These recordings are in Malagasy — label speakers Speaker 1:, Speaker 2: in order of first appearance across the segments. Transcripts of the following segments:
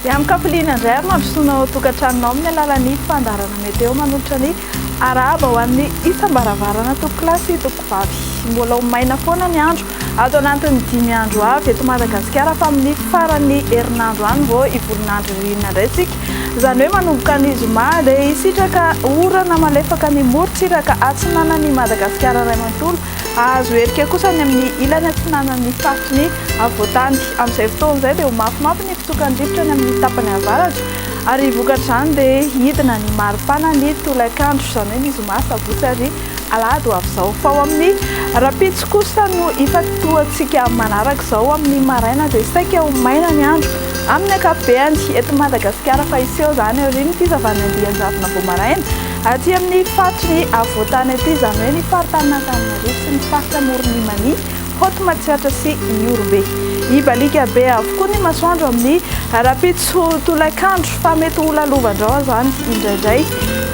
Speaker 1: Miamin-kafaliana indray ary mandrosoana ao an-tokantranonao amin'ny alalan'ny fandaharana meteo manolotra ny arahaba ho an'ny isam-baravarana, Tompokolahy sy Tompokovavy. Mbola ho maina foana ny andro Ato anatin'ny dimy andro avy eto Madagasikara fa amin'ny faran'ny herinandro any vao hivolona andro ririnina indray isika. Izany hoe manomboka ny zoma dia hisitraka orana malefaka ny morontsiraka atsinanan'i Madagasikara iray manontolo. Hahazo herika kosa ny amin'ny ilany atsinanan'ny faritry ny afovoantany. Amin'izay fotoana izay dia ho mafimafy ny fitsokan'ny rivotra any amin'ny tapany avaratra ary vokatr'izany dia hidina ny maripana ny tolakandro izany hoe ny zoma, sabotsy ary alahady ho avy izao fa ao amin'ny rahampitso kosa no hifantohantsika manaraka izao amin'ny maraina dia saika ho maina ny andro amin'ny ankapobehany eto Madagasikara fa hiseho izany aorian'ny fizavan'ny andian-javona vao maraina aty amin'ny faritry ny afovoantany aty izany hoe ny faritan'Antananarivo sy ny faritra amoron'ny Mania Haute Matsiatra sy Ihorombe hibaliaka be avokoa ny masoandro amin'ny rahampitso tolakandro fa mety ho lalovandrao izany indraindray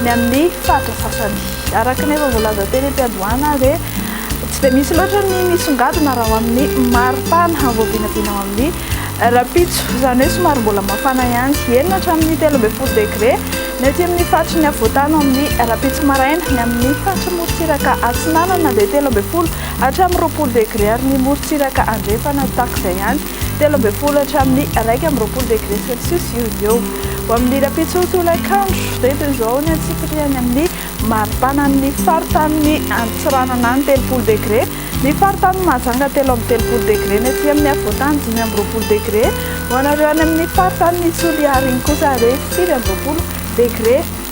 Speaker 1: ny amin'ny faritra sasany Araka ny efa voalaza teny am-piandohana dia tsy dia misy loatra ny misongadina raha ao amin'ny maripana vao vinavina ao amin'ny rahampitso. Izany hoe somary mbola mafana ihany. Enina hatramin'ny telo ambin'ny folo degre ny aty amin'ny faritry ny afovoan-tany ao amin'ny rahampitso maraina. Ny amin'ny faritry ny morontsiraka atsinanana dia telo ambin'ny folo hatramin'ny roapolo degre ary ny morontsiraka andrefana tahaka izay ihany. telo ambin'ny folo hatramin'ny iraika amby roapolo degré celsius eo ho eo. Ho amin'ny rahampitso tolakandro dia toy izao ny antsipirihany amin'ny maripanan'ny faritanin'i Antsiranana any, telopolo degré, ny faritanin'i Mahajanga telo amby telopolo degré, ny aty amin'ny afovoantany dimy amby roapolo degré, ho anareo any amin'ny faritanin'i Toliara iny kosa dia sivy amby roapolo degré.